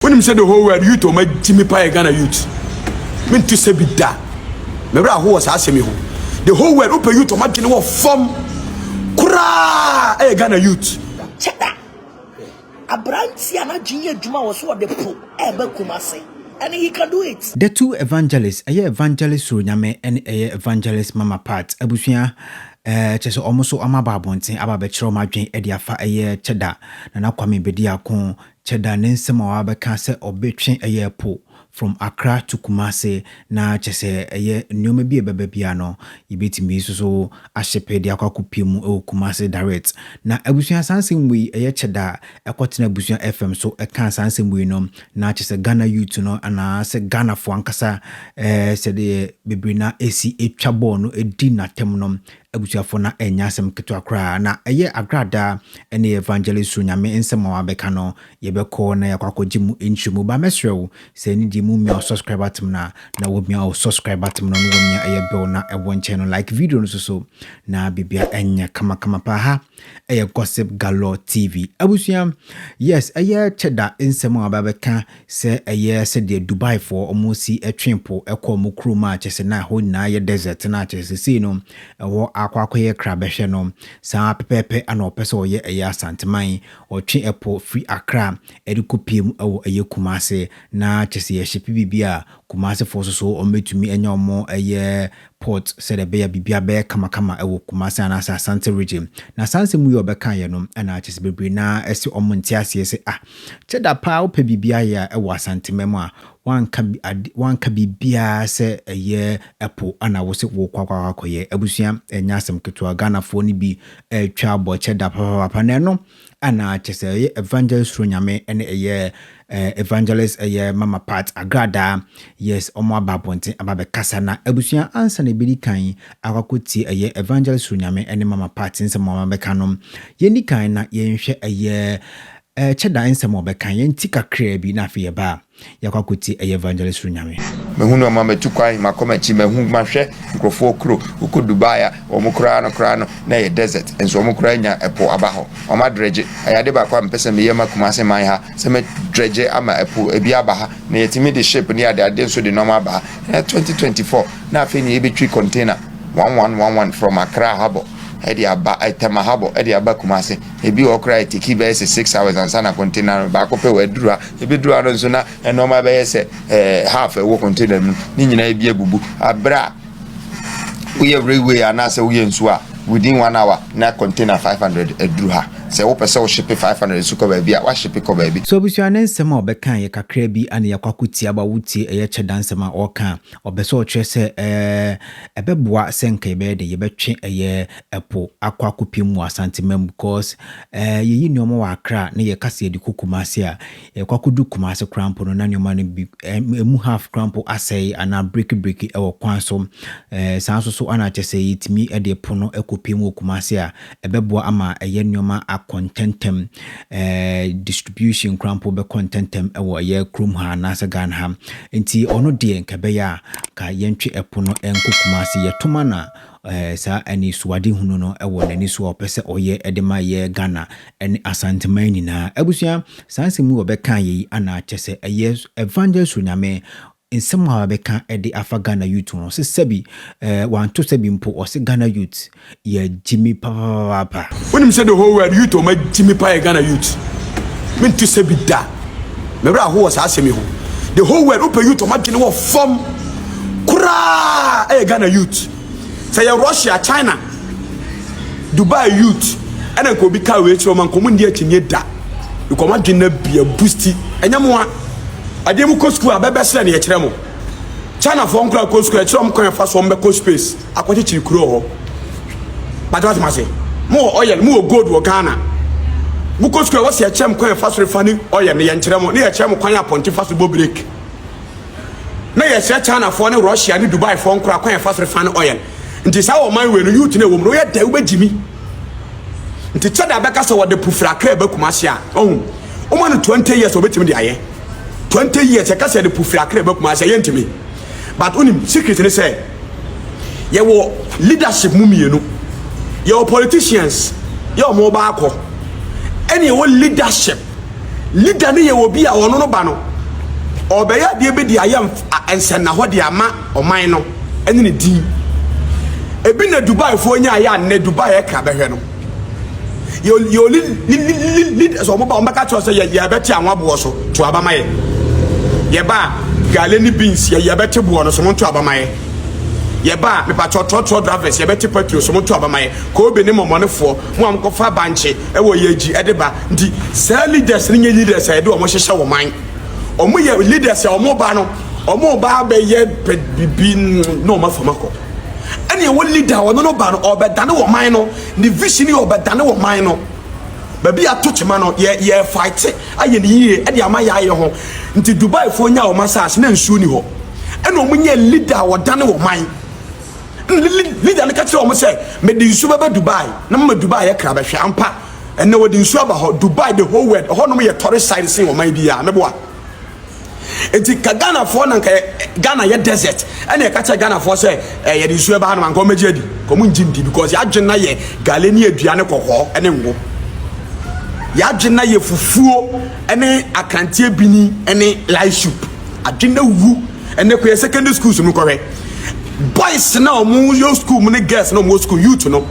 Wonim sɛ the whole world youth ɔma gyi me paa yɛ Ghana youth. Me nte sɛ bi da. Me werɛ aho wɔ saa asɛm yi ho. The whole world wopɛ youth ɔma dwene wɔ fam koraa ɛyɛ Ghana youth. Kyɛda, abranteɛ a n'adwene yɛ adwuma wɔ so ɔde po ɛɛba Kumase and he can do it. The two evangelist ɛyɛ evangelist soro nyame ɛne ɛyɛ evangelist mama part abusua ɛɛ kyɛsɛ ɔmo so ɔmo aba abɔnten aba abɛkyerɛ ɔmo adwene ɛde afa ɛyɛ kyɛda nana kwame bediako Kyɛ da ne nsɛm a wabɛka sɛ ɔbɛtwe ɛyɛ po from Accra to Kumasi na kyɛ sɛ ɛyɛ nnoɔma bi a ɛbɛba biara no yɛbɛtumi nso so ahyepe de akɔ akɔpue mu wɔ Kumasi direct. Na abusua saa nsɛm wei ɛyɛ kyɛ da a ɛkɔtena abusua FM so ɛkaa saa nsɛm wei no na kyɛ sɛ Ghana youth no anaa sɛ Ghanafoɔ ankasa ɛɛ sɛdeɛ bebree no ara ɛsi ɛtwa bɔɔl no ɛdi natɛm no Abusuafo, na ɛnyɛ asɛm ketewa koraa, na ɛyɛ agradaa. Ɛnna yɛ Evangelii so Nyame nsɛm a wabɛka no. Yɛbɛkɔ na yɛakɔ akɔgye mu nkyerɛmu. Ba mɛsrɛ wo, sɛ ɛne deɛ mumia wo subscribe buttom no a, na wamia wo subscribe buttom no, na wamia ɛyɛ bell no a ɛwɔ nkyɛn no, like video no nso so, na biribiara nyɛ kamakama paa. Ha Ɛyɛ gossip galore TV abusua yes ɛyɛ kyɛda nsɛm a ɔbaa bɛka sɛ ɛyɛ sɛdeɛ Dubai foɔ ɔmo si twe po kɔ ɔmo kurom a kyɛsɛ na ɛhɔ nyinaa yɛ desert na kyɛsɛ sesei no ɛhɔ akɔ akɔyɛ kra bɛhwɛ no saa pɛpɛɛpɛ ana ɔpɛ sɛ ɔyɛ ɛyɛ Asanteman ɔtwe ɛpo firi Accra ɛde kɔ pie mu ɛwɔ ɛyɛ Kumase na kyɛsɛ yɛ shipi biribi a Kumase foɔ soso ɔmo bɛtumi anya ɔmo ɛyɛ port sɛdeɛ ɛbɛyɛ a biribiara bɛyɛ kamakama wɔ Kumasi anaasɛ Asante region. Na saa nsɛm yi a ɔbɛkaeɛ no na kyerɛ sɛ bebree no ara se wɔn nte aseɛ sɛ ah kyɛ da paa wopɛ biribi ayɛ a wɔ Asanteman mu a woanka ade woanka biribiara sɛ ɛyɛ ɛpo na wo se wokɔ akɔ akɔyɛ. Abusua ɛnyɛ asɛm ketewa Ghanafoɔ no bi retwa bɔ kyɛ da papaapa na ɛno Ana kyerɛ sɛ ɛyɛ evangelist suro nyame ɛne ɛyɛ eh, evangelist ɛyɛ mama part agradaa yes ɔmo aba abɔnten aba bɛkasa na abusua ansa na ebedi kan akɔkɔ tie ɛyɛ evangelist suro nyame ɛne mama part nsɛm ɔmo bɛka no yɛni kan na yɛnhwɛ ɛyɛ eh, kyɛda nsɛm ɔbɛka yɛn ti kakraa bi na afei yɛba a Yɛakɔ akɔtie ɛyɛ evangelist Runyame. Mehu no ɔma matu kwan makɔ makyi mahu mahwɛ nkurɔfoɔ kuro wokɔ Dubai a wɔn koraa no koraa no na ɛyɛ desert nso wɔn koraa nya ɛpo aba hɔ wɔn adregye ɛyɛ ade baako a mepɛ sɛ meyɛ ma Kumasi man ha sɛ mɛ dregye ama ɛpo ɛbi aba ha na yɛtumi de ship ne ade ade nso de nnoɔma aba ha ɛnɛ 2024 na afei ne yɛbɛtwi container 1111 from Accra harbor ɛde aba Tema harbor ɛde aba Kumasi ebi wɔ koraa ɛteki bɛyɛ sɛ 6 hours ansa na container no baako pɛ wɔ aduru ha Ebeduru ano nso na nneɛma bɛyɛ sɛ ɛɛ half ɛwɔ container mu ne nyinaa bi abubu. Abere a woyɛ railway anaasɛ woyɛ nsuo a within one hour na container five hundred aduru ha. Sɛ wopɛ sɛ wohyepe five hundred nso kɔ baabi a woahyepe kɔ baabi. So abusua ne nsɛm a ɔbɛka yɛ kakraa bi ana yɛakɔ akɔtia ba wotie ɛyɛ kyɛ da nsɛm a ɔreka a ɔpɛ sɛ ɔkyerɛ sɛ ɛɛ ɛbɛboa sɛ nka yɛbɛyɛ dɛn yɛbɛtwe ɛyɛ ɛpo akɔ akɔpem wɔ Asantema mu cause ɛɛ yɛyi nneɛma wɔ Accra na yɛka sɛ yɛde kɔ Kumasi a, yɛkɔ akɔduru Kumasi koraa mpo no na nneɛma no bi ɛɛ ɛmu half koraa mpo asɛe anaa breki breki ɛwɔ kwan so. Ɛɛ saa nso so ɛna kyerɛ sɛ yɛtumi de po no kɔpem wɔ Kumasi a, ɛbɛboa ama ɛyɛ nneɛma akɔ ntɛntɛm. Ɛɛ distribution koraa mpo bɛkɔ ntɛntɛm ɛwɔ ɛyɛ kurom ha anaa sɛ Ghana ha. Nti ɔno deɛ nka ɛbɛyɛ a, nka yɛntwe ɛpo no nkɔ Kumasi. Yɛtoma na. saa anisoadehunu no wɔ n'ani so a ɔpɛ sɛ ɔyɛ de ma yɛ Ghana ne Asanteman nyinaa. Abusua, saa nsɛm yi wɔbɛka yɛ yi ana kyɛ sɛ ɛyɛ Evangelist Suronyame nsɛm a wabɛka de afa Ghana youth ho sɛ sɛbi eh, wanto sɛbi mpo ɔse Ghana youth yɛ gyimi papapapaapa. Wonim sɛ the whole world youth ɔma gyimi pa yɛ Ghana youth. Mento sɛbi da. Me werɛ ahoɔ wɔ saa asɛm yi ho. The whole world wopɛ youth ɔmo adwene wɔ fam koraa ɛyɛ Ghana youth. Sɛ yɛ Russia, China, Dubai youth ɛna nka obi kaa wei kyerɛ ɔmo nka ɔmo nni akyinnye da. Because ɔmo adwene no abia busti. Ɛnyɛ mo a adeɛ mo kɔ sukuu a bɛbɛsrɛ na yɛkyerɛ mo. China foɔ nkoraa kɔ sukuu a yɛkyerɛ ɔmo kwan a yɛfa so ɔmo bɛkɔ space. Akɔkyekyere kuro wɔ hɔ pagya wate mase mo wɔ oil mo wɔ gold wɔ Ghana mo kɔ sukuu a wɔsi ɛkyerɛ mo kwan ɛfa so refa ne oil ne yɛn kyerɛ mo ne yɛ kyerɛ mo kwan apɔnte fa so bɔ break na yɛ kyerɛ China foɔ ne Russia ne Dubai foɔ nkora kwan ɛfa so refa ne oil nti saa wɔ man wei no youth na ɛwɔ mu no yɛ dɛ wobɛ gyimi nti kyɛ da bɛka sɛ wɔde pufra akra ɛbɛ kuma ase a ɔhu wɔn no 20 years wɔbɛtumi de ayɛ 20 years ɛka sɛ de pufra akra ɛbɛ kuma ase a yɛntumi but onim secret ne sɛ Yɛwɔ leadership mu mmienu. Yɛwɔ politicians, yɛ wɔn ba akɔ. Ɛna yɛwɔ leadership. Leader no yɛ obi a ɔno no ba no, ɔbɛyɛ adeɛ bi de ayɛ nsɛnnahɔ de ama ɔman no ɛne ne din. Ebi na Dubaifoɔ nyaeɛ a nnɛ Dubai ɛkra bɛhwɛ no. yɛ yɛ oli leaders wɔn ba wɔn bɛka kyerɛ sɛ yɛ yɛ bɛte anwa boɔ so to aba ma yɛ yɛ ba gale ne beans yɛ yɛ bɛte boɔ no so wɔn to aba ma yɛ yɛ ba mipatɔ trɔtrɔ drivers yɛ bɛte petrol so wɔn to aba ma yɛ koobe ne mɔmɔnefoɔ mo a mo kɔfa bankye ɛwɔ yɛ akyi ɛde ba nti saa leaders ne nyɛ leaders a yɛde wɔn hyehyɛ wɔn man wɔn yɛ leaders a wɔn ba no wɔn ba abɛyɛ bibi na wɔn afam akɔ. ɛne ɛwɔ leader a ɔno no ba no ɔbɛdane wɔ man no ne vision yɛ ɔbɛdane wɔ man no baabi a to kyema no yɛ yɛ fight ayɛ ne yie ɛde ama yɛ ayɛ ho nti Dubai foɔ nya wɔn asase na nsuo ni hɔ ɛna wɔn nyɛ leader a ɔdane wɔ man leader no ka kyerɛ wɔn sɛ mede nsuo bɛbɛ Dubai na mama Dubai yɛ kra bɛhwɛ ampa ɛna wɔde nsuo aba hɔ Dubai the whole world ɛhɔnom yɛ tɔre side sen wɔn man bi a meboa. nti ka ghanafoɔ na nka ghana yɛ desert ɛna ɛka kyɛ ghanafoɔ sɛ eh, yɛde nsuo ɛba ha no anka ɔmɛgye adi ka ɔmo ngye ndi because yɛadwene na yɛ gale ne adua ne kɔkɔɔ ɛne ngo yɛadwene na yɛ fufuo ɛne akranteɛ bini ɛne light soup adwene na wu ɛnɛ kɔ yɛ secondary schools mu kɔhwɛ boys na ɔmo yɛ school mu ne girls na ɔmo wɔ school youth no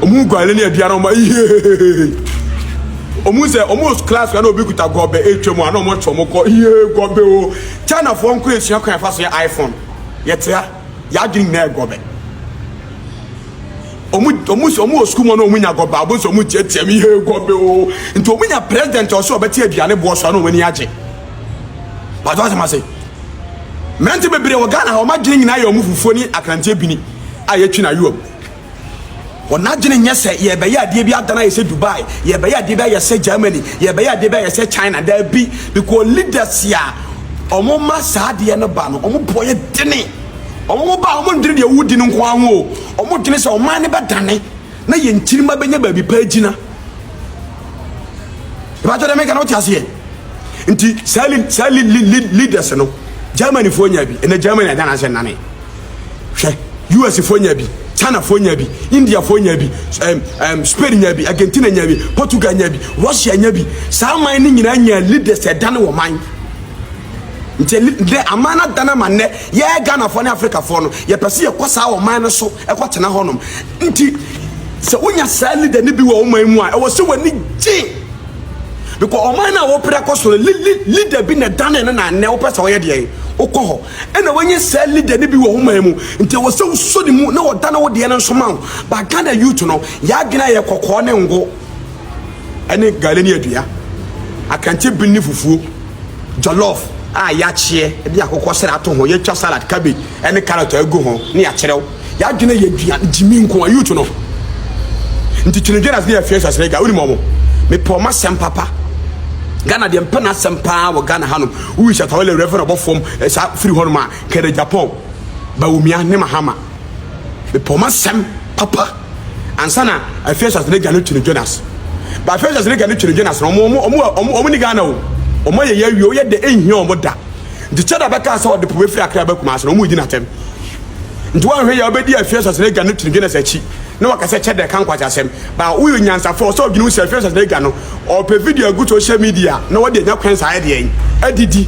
ɔmo guale ne aduane ɔmo ihehehe ɔmo sɛ ɔmo wɔ class na obi kuta gɔbɛ etwa mu a na ɔmo atwa ɔmo kɔ ihe gɔbɛ o china foɔ nkora esua kwan afa so yɛ iphone yɛtea yɛadwene nyinaa yɛ gɔbɛ ɔmo ɔmo sɛ ɔmo wɔ school mu na ɔmo nya gɔbɛ abo sɛ ɔmo tiatia mu ihe gɔbɛ o nti ɔmo nya president ɔsɛ ɔbɛte aduane boɔ so a na ɔmo ani agye pàtó asɛm ase. Mmerante bebree wɔ Ghana ha wɔn adwene nyinaa yɛ wɔn fufuo ne akranteɛ bini a yɛtwi no ayowam. Wɔn adwene nyɛ sɛ yɛbɛyɛ adeɛ bi adana ayɛ sɛ Dubai, yɛbɛyɛ adeɛ bi ayɛ sɛ Germany, yɛbɛyɛ adeɛ bi ayɛ sɛ China. Daabi, because leaders a wɔn ma saa adeɛ no ba no, wɔn boɔ yɛ dene. Wɔn ba a wɔn ndwene deɛ wodi no nko ara ho o, wɔn dwene sɛ ɔman no bɛdane. na yɛn nkyirimma bɛnya baabi pa agyina. Ɛbɛtɔ dɛ meka no wote aseɛ. Nti saa li saa li li li leaders no Germanyfoɔ nya bi ɛnɛ Germany agya n'asɛ nane hwɛ USfoɔ nya bi Chinafoɔ nya bi Indiafoɔ nya bi um, um, Spain nya bi Argentina nya bi Portugal nya bi Russia nya bi saa man no nyinaa nya leaders ɛdane wɔ man nti dɛ aman no adane ama nnɛ yɛyɛ Ghanafoɔ ne Afrikafoɔ no yɛpɛ sɛ yɛkɔ saa ɔman no so ɛkɔ tena hɔ nom nti sɛ wonya saa leader no bi wɔ ɔman mu a ɛwɔ sɛ w'ani gye because ɔman no a wopere akɔ so no leader bi na ɛdane no na nnɛ wopɛ sɛ ɔyɛ deɛ wokɔ hɔ ɛna wanya saa leader no bi wɔ ɔman mu nti ɛwɔ sɛ wosɔ ne mu na wɔdane wo deɛ no nso ma wo ba Ghana youth no yɛadwene ayɛ kɔkɔɔ ne ngo ɛne gale ne adua akante bi ne fufuo Jollof a yɛakyeɛ de akokɔsrɛ ato ho, yɛatwa salad, cabbage ne carrot agu ho na yɛakyerɛw. Y'adwene yɛ aduan, gyimi nko a. Youth no nti Twene Jonas ne Afia Sasrega, wonim wɔn? Mepɛ wɔn asɛm papa. Ghana deɛ mpɛ n'asɛm paa wɔ Ghana hanom. Wowi Shatta Wale Rev ɔbɔ fam saa firi hɔnom a, Kenneth Agyapong, Bawumia ne Mahama. Mepɛ wɔn asɛm papa. ansa na Afeasus n'agya no kyi no Jonas. Ba Afeasus n'agya no kyi no Jonas no, ɔmo ɔmo ɔmo ɔmo ɔmo ni Ghana o. Ɔmo ayɛ yɛ awie, ɔyɛ dɛ enhia ɔmo da. Nti Cheda bɛkaa sɛ ɔde po bɛfiri Accra aba Kumasi no, ɔmo redi no atɛm. Nti woanhwɛ yɛ ɔbɛdi Afeasus n'agya no kyi no Jonas akyi na waka sɛ Cheda ɛka nkwaseasɛm. Ba woyɛ onyansafo a ɔsɛ ɔdwene wo sɛ Afeasus n'agya no ɔɔpɛ video agu social media na wode anya kwan saa ɛdeɛn? Adidi.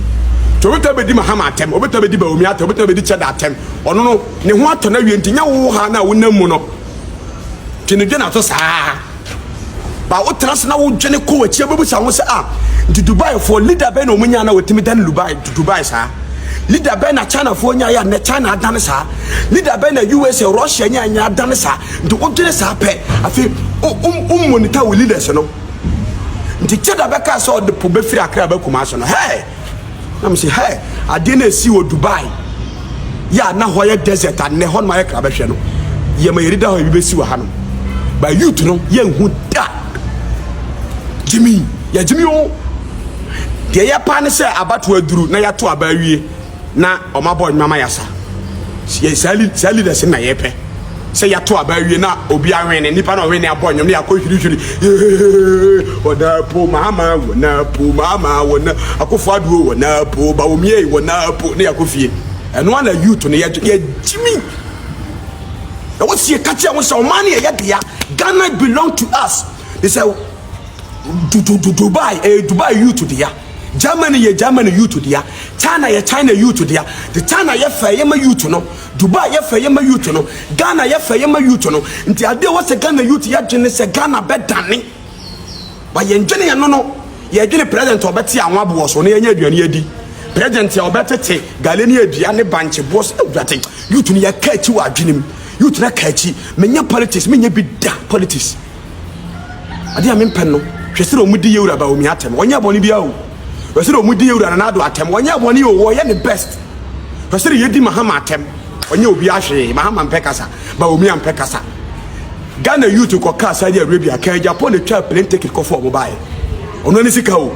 Nti ɔbɛtaa bɛdi Mahama atɛm, ɔbɛtaa bɛdi Bawumia atɛm, ɔbɛtaa bɛdi Cheda atɛm. Ɔno no. Ne ho atɔ no awie nti nyɛ wo ha no a wonam mu no nti ne dwene ato saa ba wotena se na wodwene kɔ w'akyi abɛbusa ho sɛ a nti dubaifoɔ leader bɛn na ɔmunya na wɔtumi dane dubai dubai saa leader bɛn na chinafoɔ nya yɛ nnɛ china adane saa leader bɛn na usa russia nya nya adane saa nti wodwene saa pɛ afei wommonita wo leaders no nti kyɛ da bɛka sɛ ɔde po bɛfiri akra bɛkuma so no hɛ na mo sɛ hɛ adeɛ no ɛsi wɔ Dubai yɛ a na hɔ yɛ desert anɛ hɔ nom ayɛ kra bɛhwɛ no yɛ ma yɛde da hɔ ebi bɛsi wɔ ha nom ba youth no yɛ nhu da gyimi yɛ gyimi o deɛ yɛ paa ne sɛ abato aduru na yɛato aba awie na ɔma bɔ nnwama yasa saa leaders na yɛpɛ Sɛ yɛato aba awie na obi awene, nipa na ɔwene abɔ nnwom na yɛakɔ hwirihwiri. Wɔna po mama, wɔna po mama, wɔna akofo aduo, wɔna po bawomie, wɔna po na yɛakɔ fie. Ɛno ara na youth no yɛgyimi. Ɛwɔ sie ka kyerɛ wɔn sɛ ɔman no yɛ yɛ dea. Ghana belong to us. They say Dubai, eh, Dubai youth dea. Germany yɛ Germany youth dea. China yɛ China youth dea. The China yɛ fɛ yɛ ma youth no. Dubai yɛ fɛ ye ma youth no, Ghana yɛ fɛ ye ma youth no, nti ade a ɛwɔ sɛ Ghana youth yɛ dwene ne sɛ Ghana bɛdane. But yɛn dwene yɛn no no, yɛ dwene president a ɔbɛte awon aboɔ so na yɛanya aduane adi, president a ɔbɛtete gale ne adua ne bankye boɔ so, Awurade, youth no yɛka akyi wɔ adwene mu, youth no aka akyi, menyɛ politics, menyɛ bi da, politics. Ade a mempɛ no, hwɛ sɛdeɛ wɔdi Yehowa Bawumia atɛm. Ɔnyɛɛ bɔne biara o. Hwɛ sɛdeɛ wɔdi Yehowa Nana Addo atɛm. Ɔnyɛɛ bɔne o, ɔyɛ ne best. Hwɛ sɛdeɛ yɛdi Mahama atɛm. Ɔnyɛɛ obiara hwee. Mahama mpɛ kasa. Bawumia mpɛ kasa. Ghana youth kɔkaa Saudi Arabia, kaa Japan na twaa plane ticket kɔfaa wɔn baeɛ. Ɔno ara ne sika o.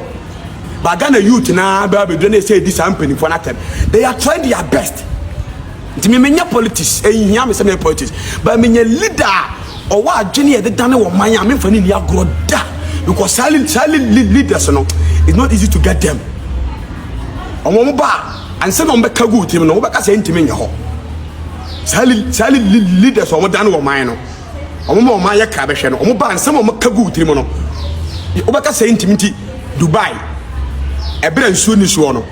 But Ghana youth no ara bɛba abɛduru na ɛsɛ yɛdi saa mpanimfoɔ no atɛm. They are trying their best. Nti me menyɛ politics, ɛnhia me sɛ meyɛ politics, but menyɛ leader a ɔwɔ adwene yɛde dane wɔ man a memfa ne nni agorɔ da because saa saa leaders no it's not easy to get them. Wɔn wɔn ba a ansa na wɔbɛka gu tirim no wɔbɛka sɛ ntumi nyɛ hɔ. Saa saa leaders a wɔdane wɔ man no. wɔn ma wɔn ayɛ kra bɛhwɛ no wɔn ba nsɛm a wɔn ka gu tirim no wobɛka sɛ ntumi nti dubai ɛberɛ nsuo ni soɔ no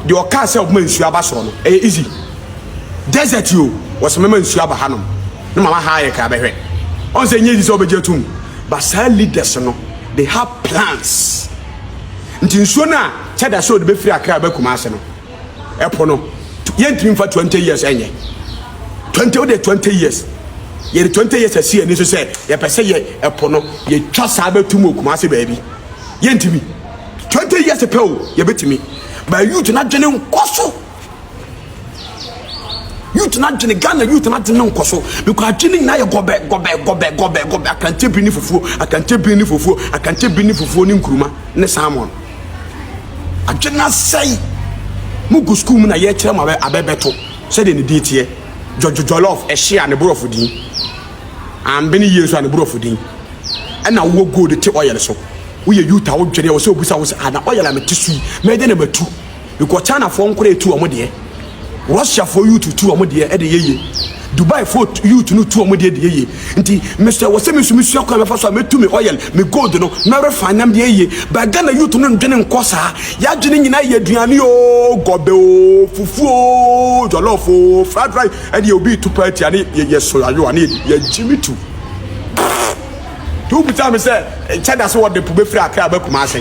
deɛ ɔkaa sɛ ɔbɛma nsuo aba soɔ no ɛyɛ easy desert o wɔsɛ mɛma nsuo aba hanom ne mama ha ayɛ kra bɛhwɛ ɔn sɛ nyɛ easy sɛ wobɛgye atum but saa leaders no they have plans nti nsuo no a kyɛda sɛ ɔde bɛfiri akra bɛkuma ase no ɛpo no yɛntumi mfa twenty years ɛnyɛ twenty o de twenty years yɛde twenty years asi ani so sɛ yɛpɛ sɛ yɛ ɛpo no yɛtwa saa bɛtum wɔ kuma ase baabi yɛntumi twenty years pɛ o yɛbɛtumi ba youth no adwene nkɔ so youth no adwene ghana youth no adwene nkɔ so because adwene nyinaa yɛ gɔbɛ gɔbɛ gɔbɛ gɔbɛ gɔbɛ akankyɛ bi ne fufuo akankyɛ bi ne fufuo akankyɛ bi ne fufuo ne nkuruma ne salmon Adwene asɛe. Mo gu school mu na yɛ kyerɛ mo abɛ abɛ bɛto sɛdeɛ ne din teɛ. Jɔjɔ jɔlɔf ɛhye a ne borɔfo din. Anbene yie nso a ne borɔfo din. Ɛna wo wɔ gold te oil so. Wo yɛ youth a wo dwene ɛwɔ sɛ obusa wo sɛ ah na oil a me te so yi mɛyɛ dɛn na matu Bikɔ China foɔ nkoraa tu ɔmo deɛ Russia foɔ youth tu ɔmo deɛ ɛde yɛ yie Dubai foɔ youth no tu ɔmo deɛ de yɛ yie nti mesɔ ɛwɔ sɛ mesu mesua kwan mɛfa so a mɛtu me oil me gold no na refine nam deɛ yie but Ghana youth no ndwene nkɔ saa yadwene nyinaa yɛ aduane oo gɔbɛ oo fufuo oo jollof oo fried rice ɛdeɛ obi tu paa tia ne yɛ yɛ soyayoa ne yɛ yɛ gyimi tu. Nti wo bisa me sɛ nkyɛ da so wɔde po bɛfiri Accra aba Kumase.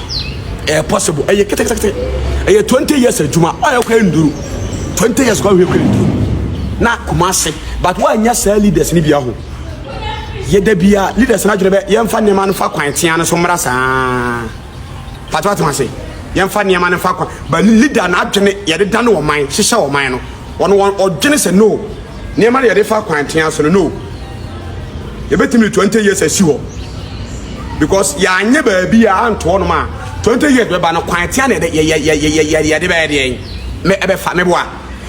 Ɛyɛ possible. Ɛyɛ ketekete. Ɛyɛ 20 years adwuma. Ɔyɛ kɔ nduru. 20 years kɔ hwɛ kɔ nduru. Na Kumase. But wɔanyɛ saa leaders no bi aho. Yɛda bi a leaders no adwene bɛ yɛmfa nneɛma no fa kwan tea no so mmra saa. Pato atoma se. Yɛmfa nneɛma no fa kwan. But leader no adwene yɛde dane ɔman, hyehyɛ ɔman no. Wɔn wɔn ɔdwene sɛ no nneɛma no yɛde fa kwan tea so no no yɛbɛtumi de 20 years asi hɔ because yɛanyɛ baabi a anto hɔnom a 20 years bɛba no kwan tea na yɛde bɛyɛ deɛn ɛbɛfa meboa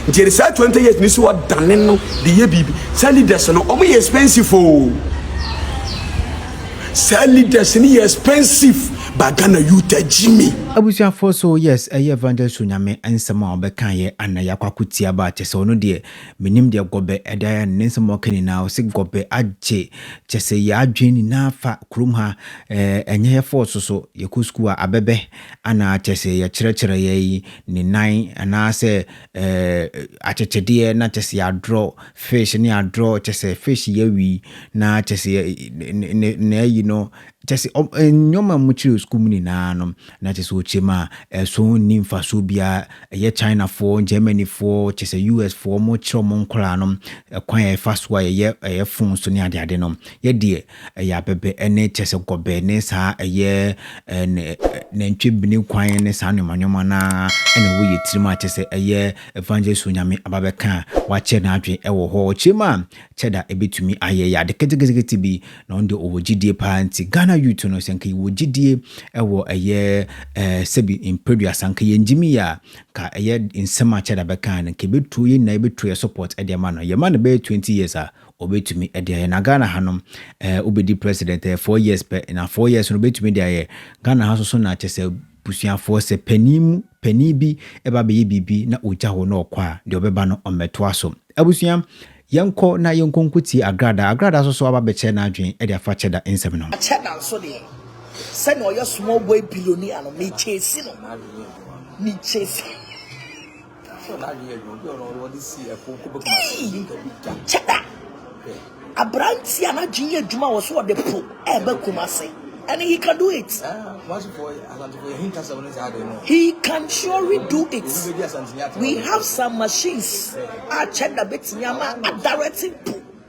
nti yɛde saa 20 years no si hɔ dane no de yɛ biribi saa leaders no ɔmo yɛ expensive o Saa leaders no yɛ expensive ba Ghana youth agyi me. Abusuafoɔ so yes ɛyɛ evangelist onyame nsɛm a ɔbɛkaeɛ ana yɛakɔ akɔtie aba a kyɛsɛ ɔno deɛ mennim deɛ gɔbɛ ɛde ayɛ no ne nsɛm a ɔka nyinaa ɔse gɔbɛ agye kyɛsɛ yɛ adwene nyinaa fa kurom ha ɛɛ ɛnyɛ yɛ force so yɛkɔ school a abɛbɛ ana kyɛsɛ yɛkyerɛkyerɛeɛ yi ne nan anaasɛ eh, akyekyedeɛ na kyɛ sɛ yɛadrɔ fish ne adrɔ kyɛ sɛ fish yɛwi na kyɛ sɛ na ayi no kyɛ sɛ nneɛma mu kyerɛ sukuu mu nyinaa no na kyɛ sɛ ɔkyɛm a ɛso nni mfasoɔ biara ɛyɛ chinafoɔ germanyfoɔ kyɛ sɛ usfoɔ mo kyerɛ mo nkɔlaa no ɛkwan a ɛfa so a yɛyɛ ɛyɛ fon so ne adeade no yɛdeɛ Ɛyɛ abɛbɛ ne kyerɛ sɛ gɔbɛ ne saa ɛyɛ nantwie bene kwan ne saa nneɛma nneɛma no ara ɛna woyɛ tirim a kyerɛ sɛ ɛyɛ evangelist Onyame aba bɛka a wakyerɛ n'adwene ɛwɔ hɔ. Ɔkyerɛm a kyɛ da ɛbɛtumi ayɛ ɛyɛ ade ketekete bi na ɔno deɛ ɔwɔ gyidie paa nti Ghana youth no sɛ nka yɛwɔ gyidie ɛwɔ ɛyɛ sɛbi mprɛduasa nka yɛngyimi yɛ a nka ɛyɛ nsɛm a kyɛ da bɛka no nka ɛbɛtuo yɛn nyinaa yɛbɛtuo yɛ support ɛde ama no yɛma no bɛyɛ 20 years a obetumi de ayɛ na ghana ha no ɛɛ wobɛdi president ɛyɛ four years pɛ na four years no obetumi de ayɛ ghana ha soso na kyɛ sɛ busuafoɔ sɛ panin mu panin bi ɛba bɛyɛ biribi na ɔgya hɔ na ɔkɔ a deɛ ɔbɛba no ɔmmɛtoa so abusua yɛnkɔ na yɛnkɔ nkotie agrada agrada soso aba bɛkyɛ n'adwene ɛde afa kyɛda nsɛm no ho kyɛda nso deɛ sɛnea ɔyɛ small boy billionaire no mekyɛsi no mekyɛsi Kyɛda! Aberanteɛ a n'adwene yɛ adwuma wɔ so ɔde po ɛreba Kumasi. And he can do it. He can surely do it. We have some machines. Ah, check the bit. Yama, directing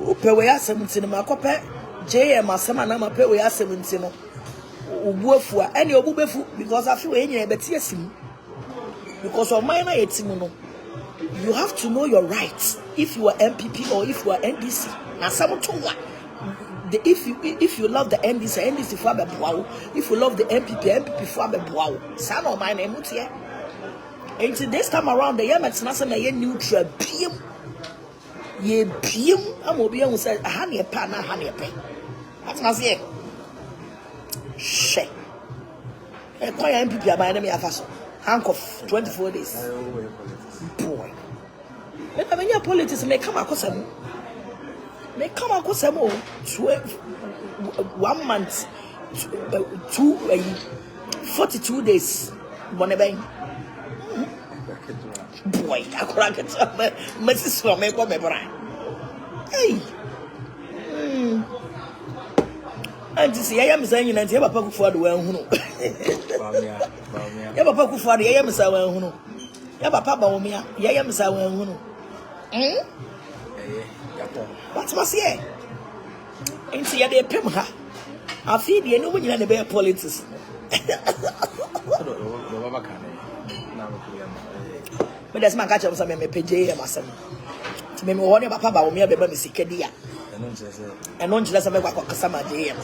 Wopɛ wei asɛm nti no makɔpɛ JM asɛm anaa mapɛ wei asɛm nti no obu afu a ɛne obu befu because afi wei nyinaa yɛbɛte asi mu because ɔman no a yɛte mu no you have to know your rights if you are MPP or if you are NDC na asɛm to wa the if you if you love the NDC NDC fo abɛboa wo if you love the MPP MPP fo abɛboa wo saa na ɔman na ɛmu teɛ nti this time around the yɛ mɛtena sɛ na yɛ neutral biem. Yɛbue mu ama obi ahu sɛ aha ne ɛpɛ anaa aha ne ɛpɛ. Atena aseɛ. Hwɛ. Ɛkwan a MPP aban ne me afa so. Handcuff 24 days. Boy. Mena menya politics me kama kosa mu. Me kama kosa mu. One month. Two, uh, 42 days. Bɔne bɛn. Boy akora ketewa mɛ mɛsisi wɔn mɛbɔ mɛ bra ei mm. anti sɛ yɛyɛ me saa nyina nti yɛ papa kufo ado wanhunu yɛ papa kufo ado yɛyɛ me saa wanhunu yɛ papa ba wɔmea yɛyɛ me saa wanhunu mm? watema seɛ Nti yɛde epem ha. Afei deɛ ɛnum nyina na ɛbɛyɛ politics. Mede sɛ maka kyerɛ m sɛ memepɛ JM asɛm nti meme wɔ ne papa ba wɔme abɛma me sika di a ɛno nkyerɛ sɛ mɛkɔ akɔkasa ma JM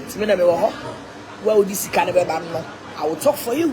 nti me na mewɔ hɔ wo a wode sika no bɛba no I will talk for you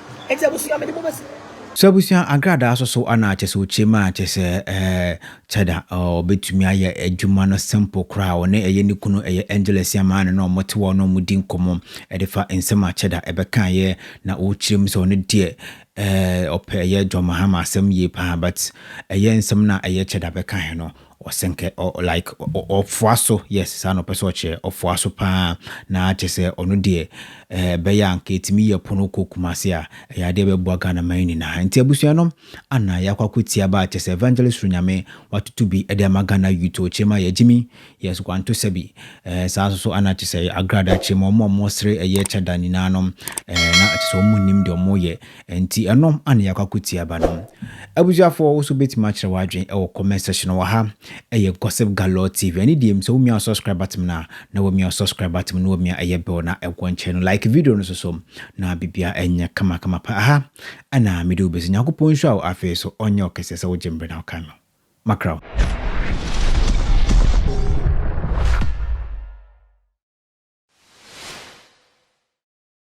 Enti abusua mede mo besi. So abusua nkrataa so so anaa kyɛ sɛ okyem a kyɛ sɛ ɛɛ kyɛda ɔbɛtumi ayɛ adwuma no simple koraa ɔne ɛyɛ ne kunu ɛyɛ Angeles amaa no na ɔmo te hɔ na ɔmo di nkɔmɔ ɛde fa nsɛm a kyɛda ɛbɛkaeɛ na ɔkyerɛ mu sɛ ɔno deɛ ɛɛ ɔpɛ ɛyɛ John Mahama asɛm yie paa but ɛyɛ nsɛm no a ɛyɛ kyɛda bɛkaeɛ no Ɔsɛ nkɛ ɔ like ɔ ɔfoa so yes saa na ɔpɛ sɛ ɔkyerɛ ɔfoa so paa na kyɛ sɛ ɔno deɛ ɛɛ ɛbɛyɛ a nka ɛtumi yɛ po no kɔ Kumasi a ɛyɛ adeɛ bɛboa Ghana man nyinaa nti abusua no ana yɛakɔ akɔ tia ba kyɛ sɛ Evangelist Soro Nyame watoto bi ɛde ama Ghana youth o kyerɛ mu ayɛ gyimi yes kwanto sɛbi ɛɛ saa nso so ana kyɛ sɛ agrada kyerɛ mu ɔmo a ɔmo sere ɛyɛ kyɛ da nyinaa no ɛɛ na kyɛ sɛ ɔmo nnim deɛ ɔmo yɛ Ɛnti ɛno ana yɛakɔ akɔtie aba no? Abusuafoɔ wo nso wobɛtumi akyerɛ w'adwene wɔ comment section wɔ ha. Ɛyɛ Gossip Galore TV. Ɛne deɛ mu sɛ womia wo subscribe button no a, na wamia wo subscribe button no wamia ɛyɛ bell na ɛwɔ nkyɛn no. Like video no nso so na biribiara ɛnyɛ kama kama pa. Aha ɛna mede wo bɛsi. Nyankopɔn nhyira wo afei nso ɔnyɛ wo kɛseɛ sɛ wogye mbrɛ na wokae me. Makra wo.